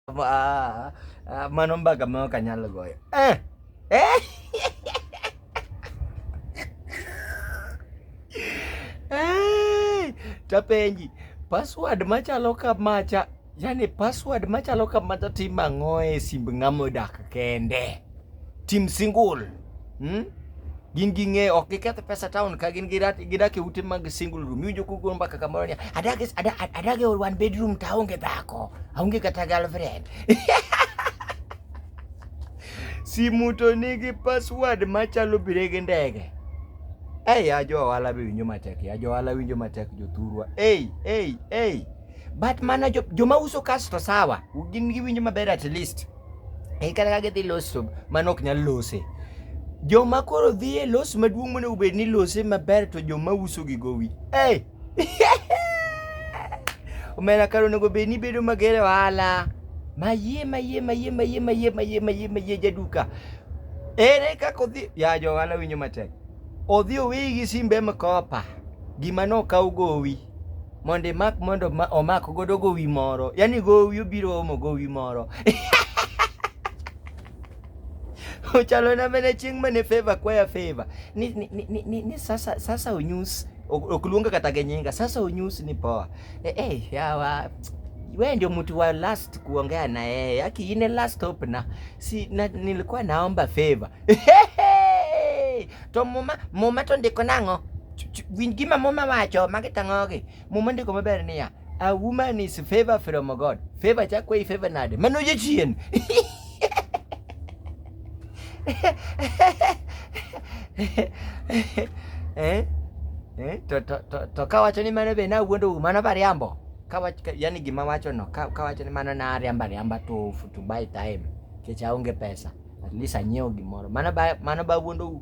Ah, ah, manon ba kamo kanyalo goyo? Eh! Eh! Eh! Tapenji, password machalo kamacha, yani password machalo kamacha tim ang'o e simb ng'ama odak kende? Tim single. Hmm? gin gi ng'eyo ok giketh pesa town ka gin gidak e ute mag single room iwinjo kugo mbaka kamoro niya adag e one bedroom to aonge dhako aonge kata girlfriend simu to nigi password machalo bire gi ndege ei ajo ohala be winjo matek ajo ohala winjo matek jothurwa ei ei ei but mana joma uso kasto sawa gin giwinjo maber at least e kata ka gidhi loso mano ok nyal lose joma koro dhi e los maduong' monego bed ni lose maber to joma uso gi gowi hey! omena kar onego bed ni bedo mager e ohala mayie mayie mayie mayie mayie mayie mayie mayie jaduka ere kaka odhi ya jo ohala winjo matek odhi oweyi gi simbe mkopa gima nokaw gowi mondo imak mondo omak godo gowi moro yani gowi obiro omo gowi moro ochalo na mene chieng' mane favor kwaya favor ni, ni, ni, ni, ni sasa, sasa onyus ok luonga kata gi nyinga sasa onyus ni poa e, eh, hey, eh, yawa wewe ndio mtu wa last kuongea na yeye yaki ine last hope na si na, nilikuwa naomba favor to muma muma to ndiko nango Winj gima muma wacho, magi tang'ogi. Muma ndiko maber niya, a woman is favor from God. Favor chakwa i favor nade? Mano jachien. eh? Eh? To, to, to, to kawacho ni mano be na wuondo u mano bariambo. Kawach, yani gima wacho no, kawacho ni mano na ariamba riamba to, to buy time. Kecha onge pesa. At least anyiewo gimoro. Mano ba mano ba wuondou.